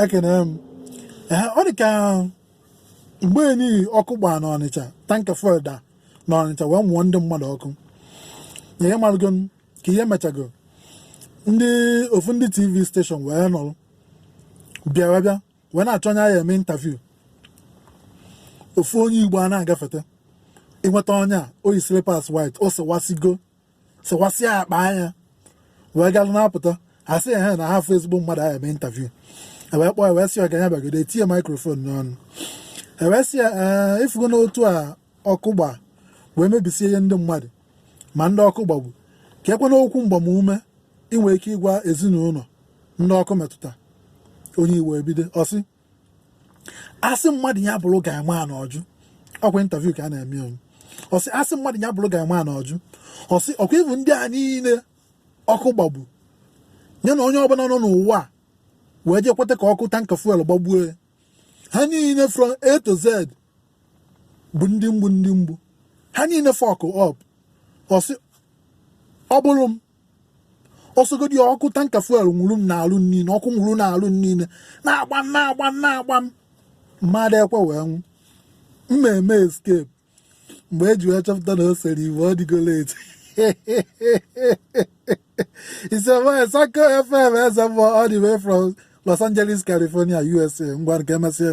ekene m ọ dị ka mgbe nị ọkụ gbaa n'ọnịcha tanka fuel daa n'ọnịcha wee mụọ ndị mmadụ ọkụ na ihe marụgo ka ihe mechago ndị ofu ndị tv steshọn wee nọrọ bịara bịa wee na-achọ onye a ya-eme intaviu ofu onye igbo a na-agafeta ịnweta onye a o yi slippers white o sewasigo sịkwasịa ya kpaa ya wee gaa na-apụta ha sị ha na ha afụ ezigbo mmadụ a ya-eme intaviu e wee kpọọ e wee sị ya ka ya bịagodo e tinye maikrofon n'ọnụ e wee sị ya ee ị fụgonụ otu a ọkụ gba wee mebisie ihe ndị mmadụ ma ndị ọkụ gbagbu kekwanụ okwu mgbamume i nwee ike ịgwa ezinụlọ ndị ọkụ metụta onye igbo ebido ọ sị a sị mmadụ ya bụrụ guy man ọ jụ ọkwa intaviu ka a na-eme ọnụ ọ sị a sị mmadụ ya bụrụ guy man ọ jụ ọ sị ọkwa ị fụ ndị a niile ọkụ gbagbu ya na onye ọbụla nọ n'ụwa a wee jee kweta ka ọkụ tanka fuel gbagbuo ya ha niile from A to Z bụ ndị mgbu ndị mgbu ha niile fuck up ọ sị ọ bụrụ m ọ sọgodi ọkụ tanka fuel nwuru m n'arụ niile ọkụ nwuru n'arụ niile na-agba m na-agba m na-agba m m adị ekwe wee nwụọ m na-eme escape mgbe e ji wee chọpụta na o sere igbo ọ dịgo late ise wee sako fm eze mmụọ all the way from Los Angeles California USA ngwanụ ka emesịa